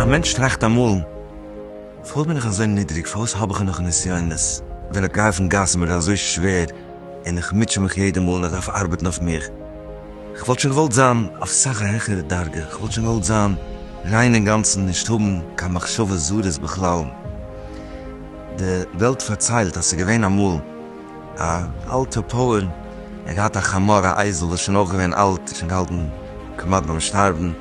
א מענטש טראכט אמאל, פארוואס בין איך אזוי נידריג? פארוואס האב איך נאך נסיונות? ווען איך גיי אויפן גאס איז מיר אזוי שווער. און איך מוטשע מיך יעדע מאל איך דארף ארבעטן אויף מיך, איך וואלט שוין געוואלט זיין אויף סאך א העכערע דרגה, איך וואלט שוין געוואלט זיין ריין אינגאנצן נישט האבן קיין מחשבות זרות בכלל, די וועלט פארציילט אז ס'איז געווען אמאל א אלטע פויער, ער האט געהאט א חמור א אייזל וואס איז שוין אויך געווען אלט, שוין געהאלטן כמעט ביים שטארבן,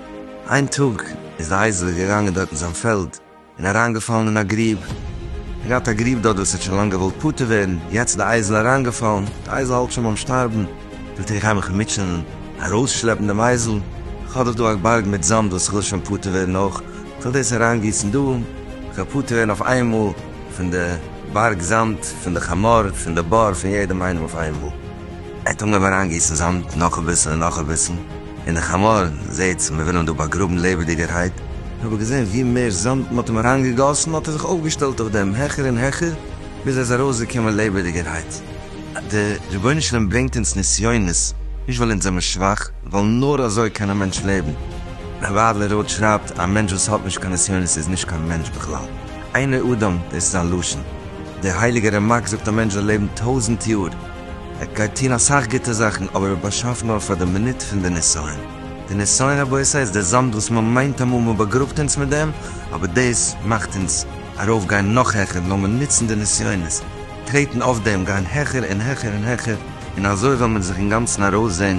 איין טאג איז די אייזל געגאנגען דארט אין זיין פעלד, און אריינגעפאלן אין א גריב, געהאט א גריב דארט וואס ער האט שוין לאנג געוואלט פטור ווערן, יעצט די אייזל אריינגעפאלן, די אייזל האלט שוין ביים שטארבן, זאגט ער איך גיי מיך מוטשענען, ארויסשלעפן דעם אייזל, כ'האב דאך דא א בארג מיט זאמד וואס כ'וויל שוין פטור ווערן אויך, כ'וועל דאס אריינגיסן דא, כ'וועל פטור ווערן אויף איינמאל פון די בארג זאמד, פון די חמור, פון די באר, פון יעדעם איינעם אויף איינמאל. ער האט אנגעהויבן אריינגיסן זאמד נאך אביסל און נאך אביסל, און די חמור זעהט מ'וויל אים דא באגראבן לעבעדיגערהייט, און אבער געזעהן ווי מער זאמד מ'האט אים אריינגעגאסן האט ער זיך אויפגעשטעלט אויף דעם העכער און העכער, ביז ער איז ארויסגעקומען לעבעדיגערהייט. דער רבונו של עולם ברענגט אונז נסיונות, נישט ווייל אונז זעמער שוואך, ווייל נאר אזוי קען א מענטש לעבן. רבי אדלער רוט שרייבט, א מענטש וואס האט נישט קיין נסיונות איז נישט קיין מענטש בכלל. איינער אדם, דאס איז זיין לשון. דער הייליגער רמק זאגט א מענטש זאל לעבן טויזנט יאר. ער גייט טון אסאך גוטע זאכן, אבער ער באשאפט נאר פאר די מינוט פון די נסיון. די נסיון רבותי איז די זאמד וואס מען מיינט אמאל מען באגראבט אונז מיט דעם, אבער דאס מאכט אונז ארויף גיין נאך העכער, לאמיר נוצן די נסיונות, טרעטן אויף דעם, גיין העכער און העכער און העכער, און אזוי וועל מען זיך אינגאנצן ארויסזען.